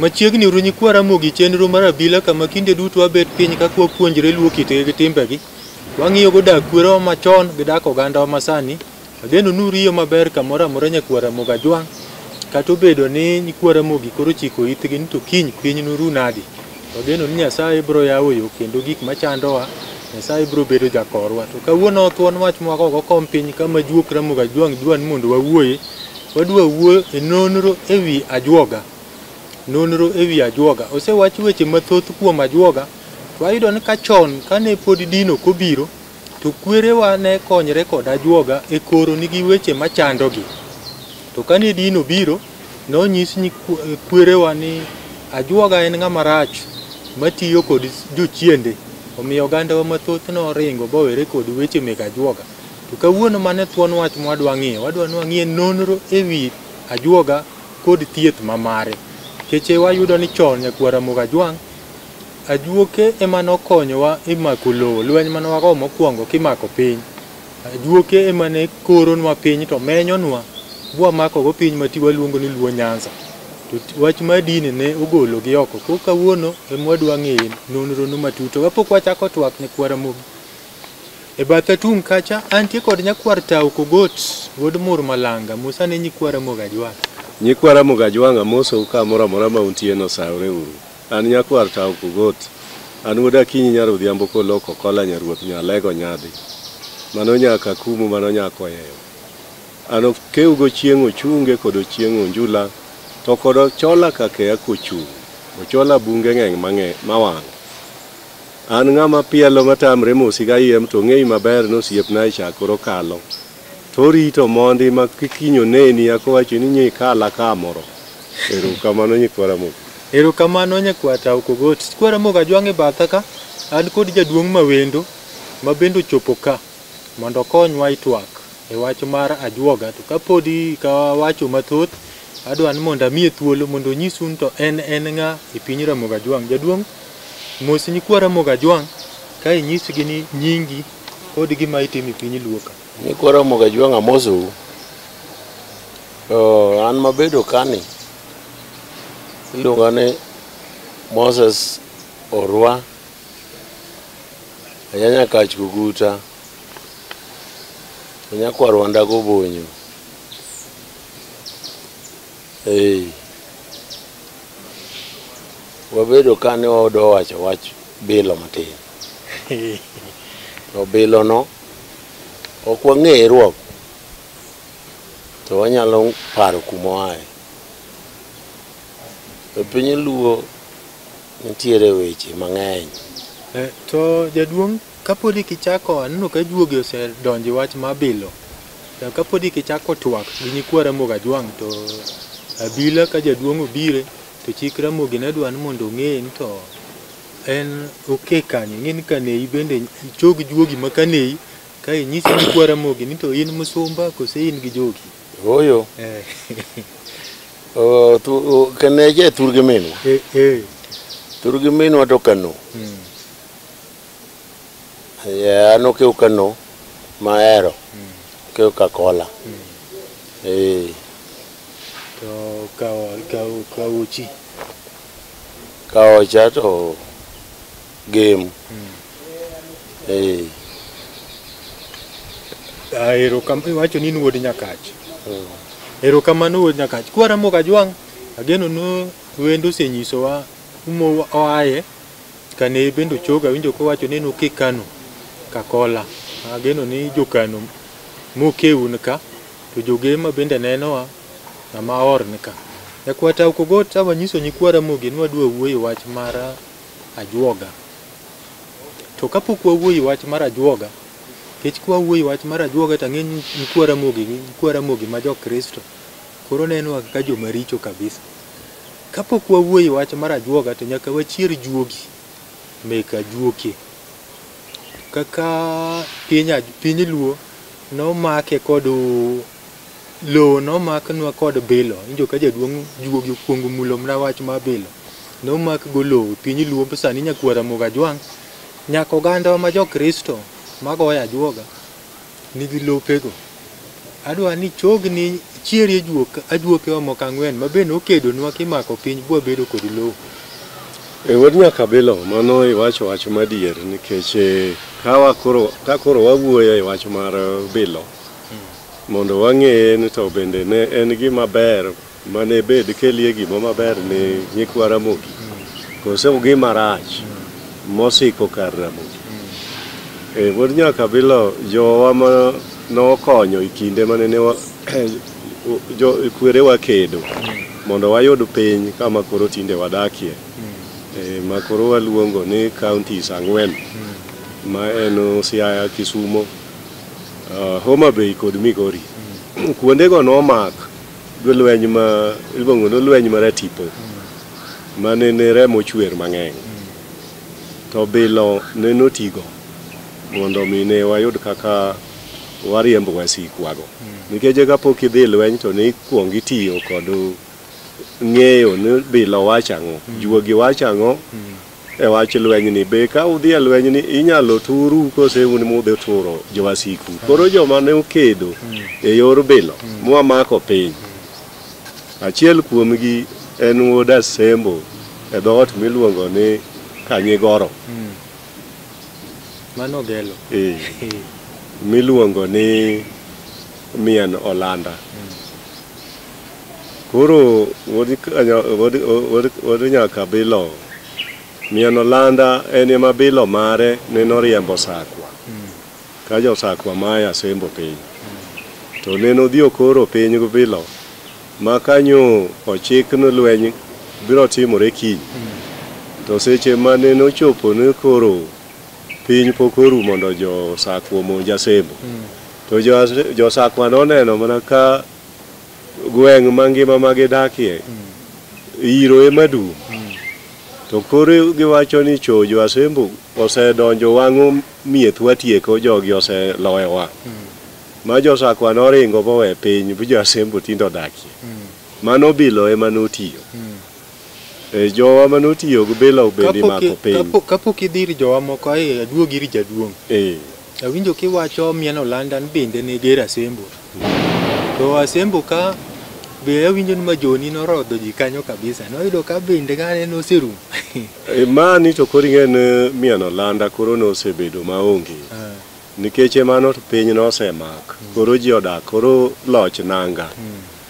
Machiegni uru nyikwa Ramogi chenro mar abila kama kinde duto wabet piny ka kwapuonjre luo kitgi gi timbegi. Wang'iyogo dak kwerewa machon gi dak ogandawa masani. Ageno ni uriyo maber kamoro amora nyakwa Ramogi Ajwang'. Kata obedo ni nyikwa Ramogi koro chiko itgi ni to kiny piny noru nadi. Wageno ni Nyasaye biro yawo yo kendo gik machandowa Nyasaye biro bedo jakorwa. To kawuono thuon wach mwa koko kom piny kama juok Ramogi Ajwang' dwa ni mondo wawuoye. Wadwa wuoyo e nonro e wi ajuoga. Nonro e wi ajuoga. Osewach weche mathoth kuom ajuoga. Wayudo ni ka chon kane pod din ok obiro, To kwerewa ne konyre kod ajuoga e koronigi weche machandogi. To kane din obiro, nonyis nyi kwerewa ni ajuoga en ng'ama rach matiyo kod jochiende. Omiyo ogandawa mathoth noringo bowere kod weche meg ajuoga. To kawuono mane thuon wach mwadwa ng'iyo, wadwa nwang'ie nonro e wi ajuoga kod thieth mamare. Keche wayudo ni chon nyakwar Ramogi Ajwang' Ajuoke ema nokonyowa e mako lowo, lweny mane wago mokwongo kimako piny. Ajuoke ema ne koronwa piny to menyonwa bwamakogo piny ma ti waluongo ni Luo Nyanza. To ti- wach mar dini ne ogologi oko. Koro kawuono ema wadwa ng'eye nonrono matut. To kapok wachako twak nyakwar Ramogi, e batha tung' kacha antie kod nyakwar Tau Kogot wuod Mur Malanga, Musa ne nyikwa Ramogi Ajwang'. Nyikwa Ramogi Ajwang' amosou kamoro amora ma untie no, saore uru. An nyakwar Tau Pokot. An wuod Akinyi nyar Odhiambo kolok Okola nyaruoth Nyalego Nyadhi. Mano nya Kakumu mano nya Koyeyo. An okewgo chieng' ochunge kod ochieng' onjula to kod ochola kakeya kochung'. Ochola bunge ng'eng' mang'e mawang'. An ng'ama pielo matamre mosi kayiem to ong'eyi maber ni osiepna echa koro kalo. To orito mondi ma kik kiny oneni ya kowacho ni nyo ikala ka moro. Ero kamano nyikwara moko. Ero kamano nyakwata okogot. Kwara moko ajwang' e batha ka. An kod jaduong' mawendo ma bende ochopo ka mondo okonywa itwak e wach mar ajwoga. To kapodi ka wacho mathoth, adwa ni mondo amiye thuolo mondo onyisu ni to en en ng'a e piny Ramogi Ajwang'. Jaduong' mos nyikwa Ramogi Ajwang' ka inyisgi ni nyingi. Kodi gima itimo e piny luo ka. Ni kora moga jwang' amosou. To an mabedo kani iluonga ni Moses Orwa Anyanya Kach Kuguta Anyakwar Wanda Gobonyo. Hey. Wabedo kani waodo wacho wach bilo matin. Obilono ok wang'eye ruok to wanyalo paro kuma oaye. E piny luo nitiere weche mang'eny. Eh, to jaduong' kapodi kichako aneno ka juogi osedonjo wach ma bilo. To kapodi kichako twak gi nyikwa Ramogi Ajwang' to abila ka jaduong' obire to chik Ramogi ne dwa ni mondo ong'e ni to en okay kanyo ing'e ni kaneyi bende chog juogi ma kaneyi ka inyisi ni kwa ramogi ni to in musumba kose in gi jogi Oyo. eh, O, tu, o, kaneje tur gi minwa. eh, eh, Tur gi minwa to kano. mm, Yeah, ano keu kano mahero. Keu kakola. Eh. to kawo kawo kawochi Kaocha to game. Eh. Ah, erokamano iwacho ni in wuod nyakach erokamano wuod nyakach kwa ramogi ajwang' ageno ni wendo osenyisowa kuma oaye kane bende ochoga winjo kowacho ni en oke kano kakola ageno ni jokano mokeun ka to jogema bende nenowa Ng'ama or ni ka. Nyakwar Tau Kogot awanyiso nyikwa Ramogi ni wadwa wuoyo wach mar ajuoga. To kapok wawuoyo wach mar ajuoga, kech kwa wuoyo wach mar ajuoga to ang'e ni nyikwa Ramogi gi nyikwa Ramogi ma jo Kristo koro neno kaka joma richo kabisa. Kapok wawuoyo wach mar ajuoga to nyaka wachier juogi mek ajuoke. Kaka piny Luo nomake kod Lowo nomaknwa kod bilo, injo ka jaduong' juogi okuongo mulo mna wach ma bilo. Nomak go lowo e piny Luo sani Nyakuo Ramogi Ajwang' nyaka oganda wa ma jo Kristo ma goyo ajuoga nigi lope go. Adwa ni chogni chieri e juok ajuoke wa moko ang'wen ma be nokedonwa kimako piny bwa bedo kod lowo. E wuod Nyakabilo mano iwacho wach madier nikech ka koro wawuoyo e wach mar bilo mondo wang'eye ni to bende ne en gima ber mane bed kelie gima maber ni nyikwa Ramogi kose gima rach mosiko kar Ramogi. E, wuod nyaka bilo jowa ma nokonyo e kinde mane ne wa- jo kwerewa kedo mondo wayud piny kama koro tinde wadakie e, ma koro waluongo ni counties ang'wen ma en Siaya, Kisumo, uh, Homa Bay kod Migori mm. kuondego nomak lweny ma iluongo ni lweny mar atipo mm. ma ne ne remo chwer mang'eny mm. to bilo ne notigo mondo mi ne wayud kaka wariembo wasikwago mm. nikech kapok idhi lweny to ne ikwong itiyo kod ng'eyo ni bilo wacho ang'o mm. juogi wacho ang'o mm. e wach lwenyni. Be ka udhi e lwenyni inyalo turu kose un mudhi turo jowasiku? Koro joma ne okedo e yor bilo mwamako piny, achiel kuomgi en wuod Asembo e dhoot miluongo ni Kanyigoro. Mano gelo. Eh, miluongo ni Mien Olanda. Koro wuod nyaka bilo mian olanda en ema bilo mare ne noriembo sakwa ka josakwa mae asembo piny to ne nodhi okoro piny gi bilo ma kanyo ochik ni lweny biro timore kiny to seche ma ne nochopo ni koro piny pok oru mondo josakwa omonj asembo to josakwa noneno mana ka gweng' mangima ma gidakie iro ema dum to koro giwacho ni cho jo asembo osedonjo wang'o mieth watieko jogi oseloyowa ma josakwa noringo bowe piny bu jo asembo tinde odakie mano bilo ema notiyo e jowa ma notiyo gi bilo bende Kapok i- imako piny kapok- kapok idhi ir jowa moko ai aduog ir jaduong' Eh, Awinjo kiwacho mien olanda ni bende ne ger asembo. To asembo ka be awinjo ni majoni norodho ji kanyo kabisa. Noyudo ka bende kane noserum. E, Mani to koro ing'eyo ni mien olanda koro nosebedo maonge. Ah, Nikech emano to piny nosemak. Koro ji odak, koro loch nanga.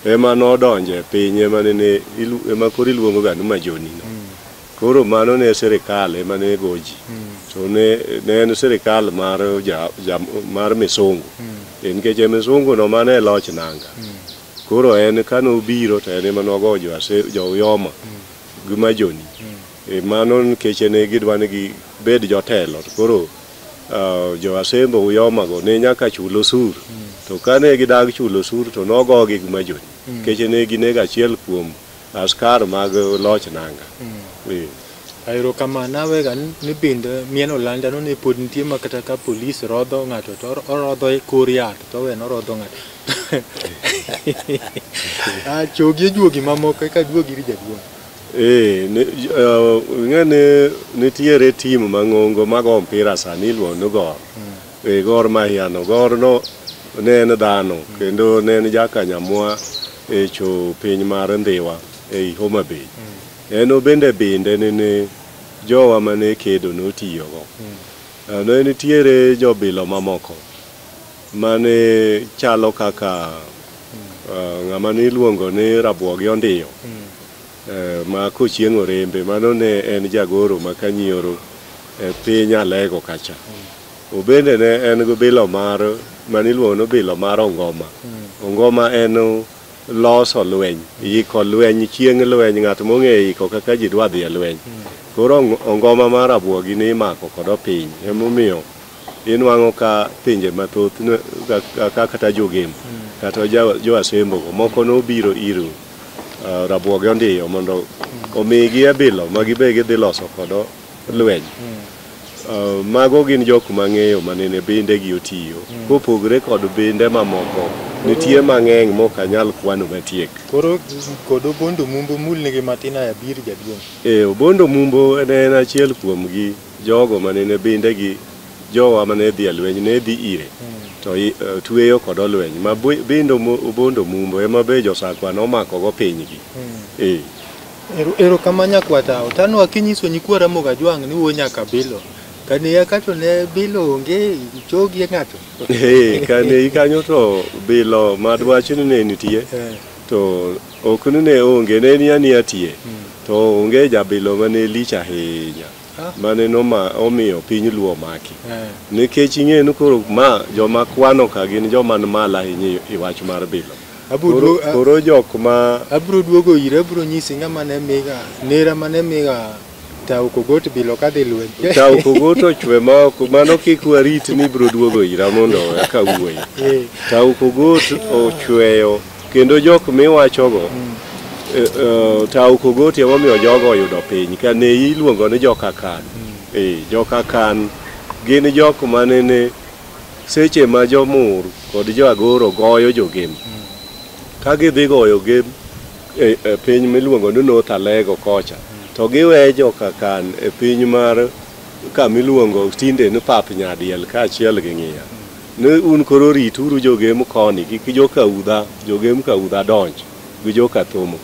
Ema nodonje piny ema nene ilu- ema koro iluongoga ni majonino. Koro mano ne sirikal ema ne go ji to ne ne en sirikal mar ja, ja, mar misungu e nikech e misungu no mane e loch nanga koro en kane obiro to en ema nogo jo Ase- jo Uyoma gi Majoni e mano nikech ne gidwa ni gibed jotelo to koro ah, jo Asembo Uyoma go ne nyaka chul osur to kane gidag chulo osur to nogogi gi Majoni nikech ne ginego achiel kuom Askar mag loch nanga. Eh. Ayero kama nawe ga ni bind mien olanda no ne pod nitie ma kata ka polis rodho ng'ato to or- orodho e kor yath to wen orodho ng'ato. Ah chogi e juogi mamoko eka juogi iri jaduong'. Eh, ne- j- eh, ing'e ni nitiere tim mang'ongo mago mpira sani iluongo ni gor. E Gor Mahia no. Gor no ne en dhano kendo ne en jakanyamwa e cho piny mar Ndhiwa e i Homa Bay. En obende binde nene jowa mane kedo notiyogo. Eh, Ne nitiere jobilo mamoko mane chalo kaka eh, ng'ama niluongo ni Rabuogi Ondiyo. ma kochieng' orembe mano ne en jagoro ma Kanyoro e piny Alego kacha. Obende ne en gi bilo mar mane iluongo ni bilo mar Ongoma. Ongoma en loso lweny, iko lweny chieng' lweny ng'at mong'eyo iko kaka ji dwa dhi e lweny. Koro Ongoma mar Rabuogi ne imako kod Opiny emomiyo inwang'o ka pinje mathoth kaka kata Jo-Gembo kata Jo-Asembo go moko nobiro ir uh, rabuoge ondiyo mondo mm. omigi abilo ma gibe gidhi loso kodo lweny mm. uh, mago gin jok mang'eyo manene binde gi otiyo mm. kopogre kod binde mamoko nitie mang'eny mok anyal kwano matiek koro kod obondo mumbo mul nigi matin aya bir jaduong' e obondo mumbo en achiel kuomgi jogo manene binde gi Jowa ma ne dhi e lweny ne dhi ire to i- eh, tueyo kod olweny ma bu- bindo mu- bondo mumbo ema be josakwa nomakogo pinygi Eh, Ero- erokamano nyakwata otanwa kinyiso nyikwa ramogi ajwang' ni wuo nyaka bilo kane ya kato ne bilo onge chogi e ng'ato eh, kane ikanyo to bilo madwach ni ne nitie Eh, to ok ni ne onge ne ni aniya tie to onge jabilo ma ne lich ahinya mane noma omiyo piny luo omaki Eh. nikech ing'eyo ni koro ma joma kwano ka gin joma ni malo ahinya i wach mar bilo Abro koro, duo- a- koro jok ma abro duogo ire abro nyisi ng'ama ne miga nera mane miga tao kogot bilo kadhi lweny tawo kogoto chwe ma ok mano kik warit ni biro duogo ira mondo eka wuoyi Eh. tawo kogot ochweyo Kendo jok miwachogo e, e, tawo kogoti emomiyo jogo oyudo piny ka ne iluongo ni jokakan e, jokakan gin jok manene seche ma jomur kod joagoro goyo jogem ka gidhi goyo gem e, e piny miluongo ni north alego kocha to giwe jokakan e piny mar kamiluongo tinde ni pap nyadiel kaachiel gi ng'iya Ni un koro rituru jogem koni gi ki joka udha, jogem ka udha donj gi joka thomo.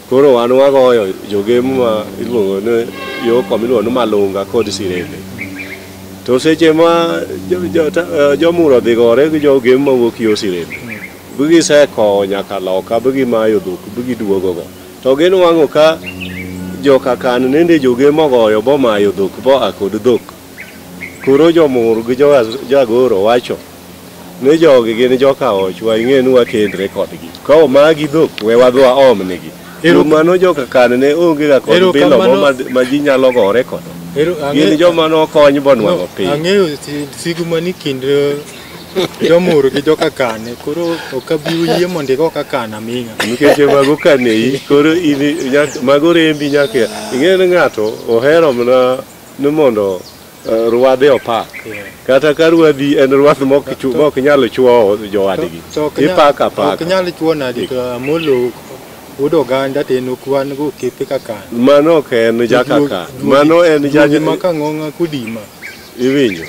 Koro wan wagoyo jogem ma iluongo ni yo koma iluongo ni Malunga kod Sirende. To seche ma jo- jo- ta- eh, jomuro dhi gore gi jogem ma wuok yo Sirende, bi gisekowo nyaka loka, bi gimayo dhok, bi giduogogo. To ginwang'o ka joka kan nende jogem ogoyo bomayo dhok boa kod dhok. Koro jomur gi jagoro wacho ni jogi gin joka och wa ing'e ni wakendre kodgi ka omagi dhok we wadhi waom nigi Ero- mano joka kan ne onge ga kod Ero bilo kamano. ma, ma ji nyalo gore kodo Ero- gin ang'e- joma nokony bonwang'o piny ang'eyo si- sigu mani kind eh, jomur gi joka kane koro ok abi yie mondo igo ka kan aming'a nikech mago kaneyi koro in nyaka- mago rembi nyaka ing'e ni ng'ato ohero mana ni mondo eh, ruadhe opak Yeah. kata ka ruadhi en ruath mok chu- mok nyal chuowo jowadgi To ok nyal- ipaka ok apaka nyal chuo nadi to amolo wuod oganda to en okwan go kepe kaka mano ok en jakaka mano en jaj ma kang'ong'a kudima iwinjo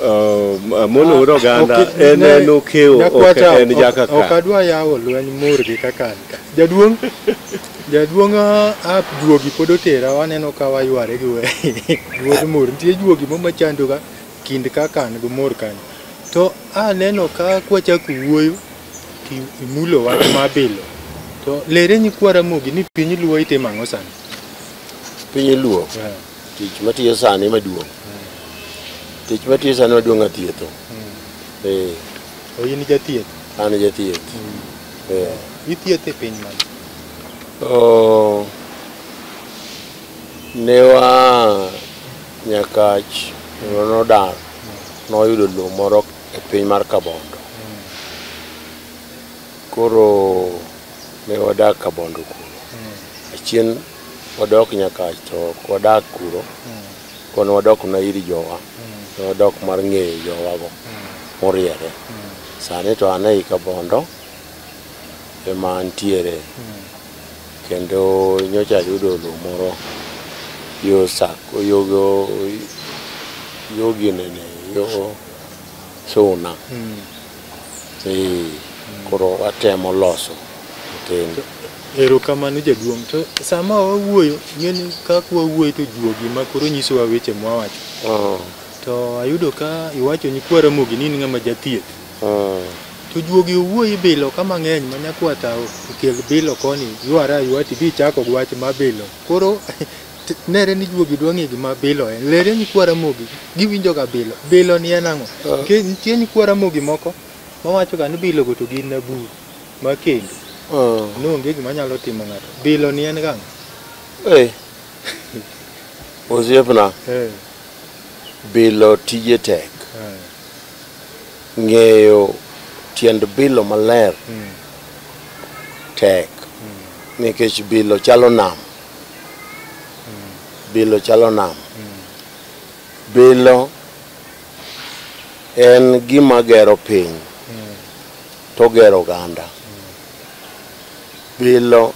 Uh, mono ur oganda Ok- en ne- en okewo ok Nyakwata, en ok- jakaka ok adwa yawo lweny mur gi kaka an ka. Jaduong' jaduong' ah, ah, juogi pod otera waneno ka wayware gi we- wuod mur. Nitie juogi moko machandoga kind kaka an gi mur kanyo. To aneno ka kwachako wuoyo to imulo wach mabilo. To lere nyikwa Ramogi ni piny luo itimo ang'o sani? piny luo Yeah. Tich matiyo sani maduong'. Tich matiyo sani maduong' athietho. Eh, To in jathieth. an jathieth. Eh. Ithieth e piny mane? Oh, ne wa Nyakach kendo nodar noyudo lowo moro e piny mar Kabondo. Koro Ne wadak Kabondo kuno. Achien wadok nyaka to wadak kuro. Kono wadok na iri jowa. Ne wadok mar ng'eyo jowago moriere. Sani to an ei Kabondo ema antiere. Kendo nyocha ayudo lo moro yo Sako, yo go, yo ginene, yo Suna. Ee, koro watemo loso matin. Erokamano jaduong'. To sama wawuoyo, ng'eni kaka wawuoyo to juogi ma koro nyisowa weche mwawacho. Ah, To ayudo ka iwacho ni kwa Ramogi ni in ng'ama jathieth. ah, To juogi owuoyi bilo ka mang'eny ma nyakwata okel bilo koni ywara aywa tidhi ichako gi wach ma bilo. Koro T- Nere ni juogi dwa ng'e gima bilo en. Lere nyikwa Ramogi giwinjoga bilo. Bilo ni en ang'o? Ah. Ke- Nitie nyikwa Ramogi moko mawachoga ni bilogo to gin naburu ma kendo Ah, noonge gima nyalo timo ng'ato. Bilo ni en gang'o? eh. Osiepna, Eh, bilo tije tek. eh, Ng'eyo tiend bilo maler mm, tek. Nikech bilo chalo nam. bilo chalo nam bilo en gima gero piny to gero oganda bilo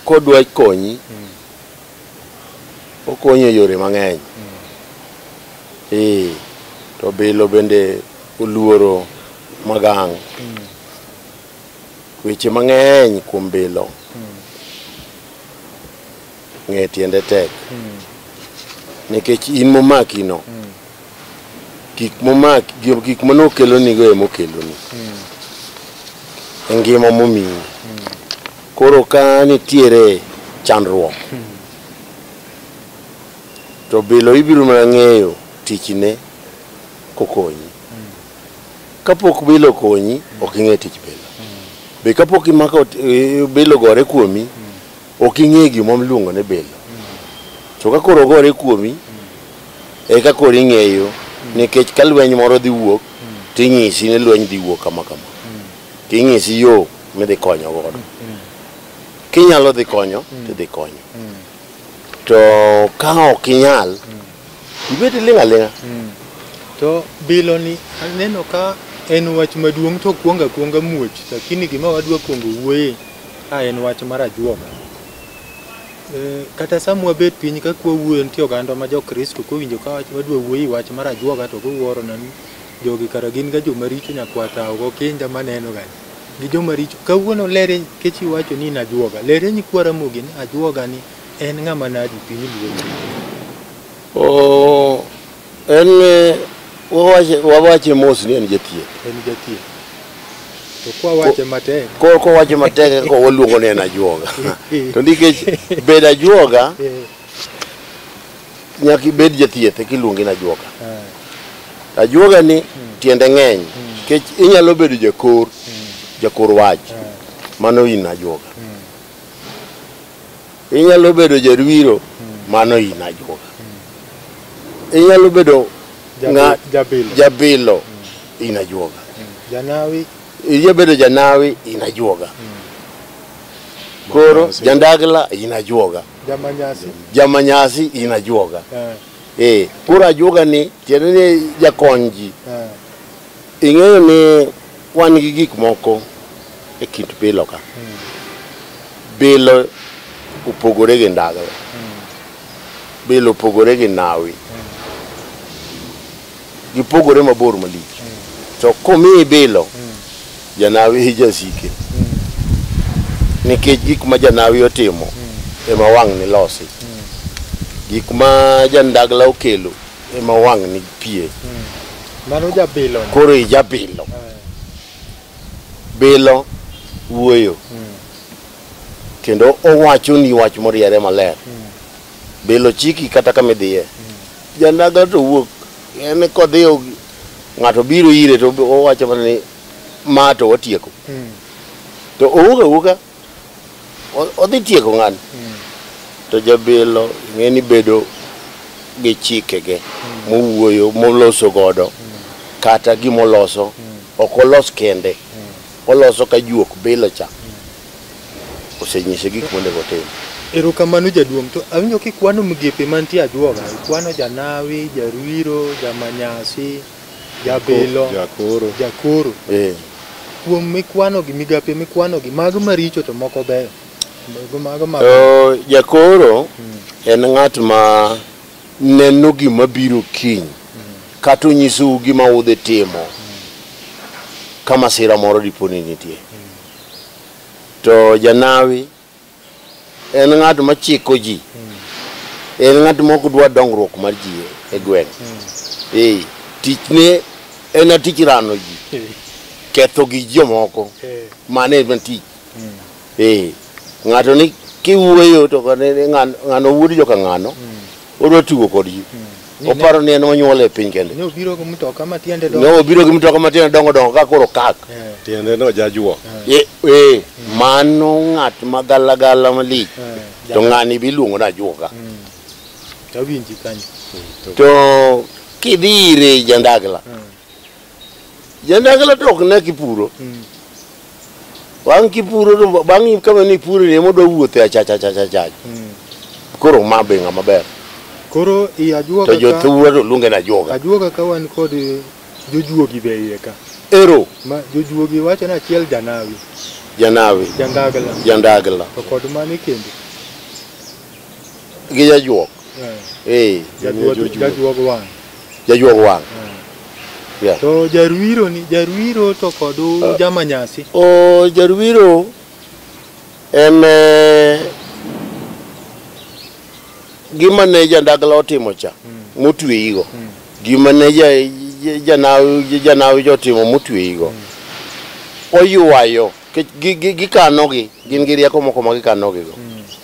kodwa konyi okonyo e yore mang'eny ee to bilo bende oluoro magang' Weche mang'eny kuom bilo ng'e tiende tek nikech in momakino gik momaki gi- gik mane okelonigo ema okeloni e ngima momiyi koro ka nitiere chandruok to bilo ibiro mana ng'eyo tichne kokonyi Kapok bilo okonyi, ok ing'e tich bilo. Be kapok imako eh, bilo gore kuomi, ok ing'e gima iluongo ni bilo. To ka koro ogore kuomi, eka koro ing'eyo nikech ka lweny moro dhi wuok, tinyisi ni lweny dhi wuok kama kama. Tinyisi yo midhi konyo godo. Kinyalo dhi konyo, tidhi konyo. To ka ok inyal, ibet iling' aling'a Mm. To bilo ni aneno ka en wach maduong' to kuonga kuonga muoch lakini gima wadwa kuongo wuoye ka en wach mar ajuoga. E, kata sama wabet piny ka kwa wuoyo nitie oganda ma jokristo kowinjo ka wach- wadwa wuoye wach mar ajuoga to giwuoro na ni jogi kara gin ga joma richo nyakwata ogo kinda maneno ga gi joma richo kawuono lere kechi wacho ni in ajuoga lere ni kwa ramogi ni ajuoga ni En ng'ama nadi piny luongo? Oh, en eh, wawache wawache mos ni en jathieth. En jathieth. To kwa wache matek. Ko ko wache matek ko waluongo ni en ajuoga. to nikech bed ajuoga Eh, nyaka ibed jathieth eka iluongi ni ajuoga. ah, Ajuoga ni tiende ng'eny nikech inyalo bedo jakor jakor wach mano in ajuoga. inyalo bedo jarwiro mano in ajuoga inyalo bedo nga- Jabilo. jabilo in ajuoga Janawi. inyalo bedo janawi in ajuoga koro Manyasi. jandagla in ajuoga Jamanyasi. jamanyasi in ajuoga Eh, eh koro ajuoga ni tiende ni jakony ji eh. Ing'eyo ni wan gi gik moko e kind bilo ka. Bilo opogore gi ndagla. Bilo opogore gi nawi. Gipogore mabor malich. To komiyi bilo, janawi e jasike. Nikech gik ma janawi otimo ema wang'ni losi. Gik ma jandagla okelo ema wang' ni pie Mano jabilo. koro ijabilo bilo wuoyo kendo owachoni wach moriere maler bilo chiki kata kama idhiye janaga to wuok en kodhi og- ng'ato biro ire to owacho mana ni ma to watieko to owuok awuoka O- odhi tieko ng'ani to jabilo ng'eni bedo gi chikege mowuoyo moloso godo kata gimoloso ok olos kende oloso ka juok bilo cha osenyise gik monego otim Erokamano jaduong' to awinjo kikwano migepe mantie ajuoga, ikwano janawi, jaruiro, jamanyasi, Jabilo. Jakoro. Jakoro. Eh. Kuom mikwano gi migape mikwano gi mago maricho to moko beyo. Mago mago mago. Oh, jakoro en ng'at ma neno gima biro kiny kata onyisou gima udhi timo ka masira moro diponi nitie to janawi en ng'at ma chiko ji en ng'at ma ok dwa dongruok mar ji e gweng' ee tichne en atich rano ji ketho gi jomoko mano en tich ee ng'ato ni kiwuoyo to kane ng'ano wuod joka ng'ano odwa tugo kodgi Ni oparo ni en monyuol e piny kende Ne obiro gi mtoka ma tiende ne dongo. obiro gi mtoka matindo dongo dongo ka koro kak Eh, tiende no jajuo e e, mano ng'at ma galagala malich eh, to ng'ani biluongo ni ajuoga Mm. Tawinji kanyo. to kidhi ire jandagla Mm. Jandagla to ok ne kipuro. Mm. Bang' kipuro to bang' kama ni puro ni emodwa wuothe e achacha achacha achacha. Mm. Koro ma be ng'ama ber. Koro i ajuoga ka. To jothuwa to luonge na ajuoga. Ajuoga ka wan kod jojuogi be iye ka. Ero. Ma jojuogi wacho ni achiel janawi. Janawi. Jandagla. Jandagla. To kod mani kendo. gi jajuok eh jajuok jajuok wang jajuok wang yeah. to jaruiro ni jaruiro to kod uh, ah. jamanyasi o oh, jaruiro en eh, gima ne jandagla otimo cha mm. motweyigo mm. gima ne janawi janawi jotimo motweyigo mm. oywayo gikanogi gin gi rieko moko ma gikanogigo mm.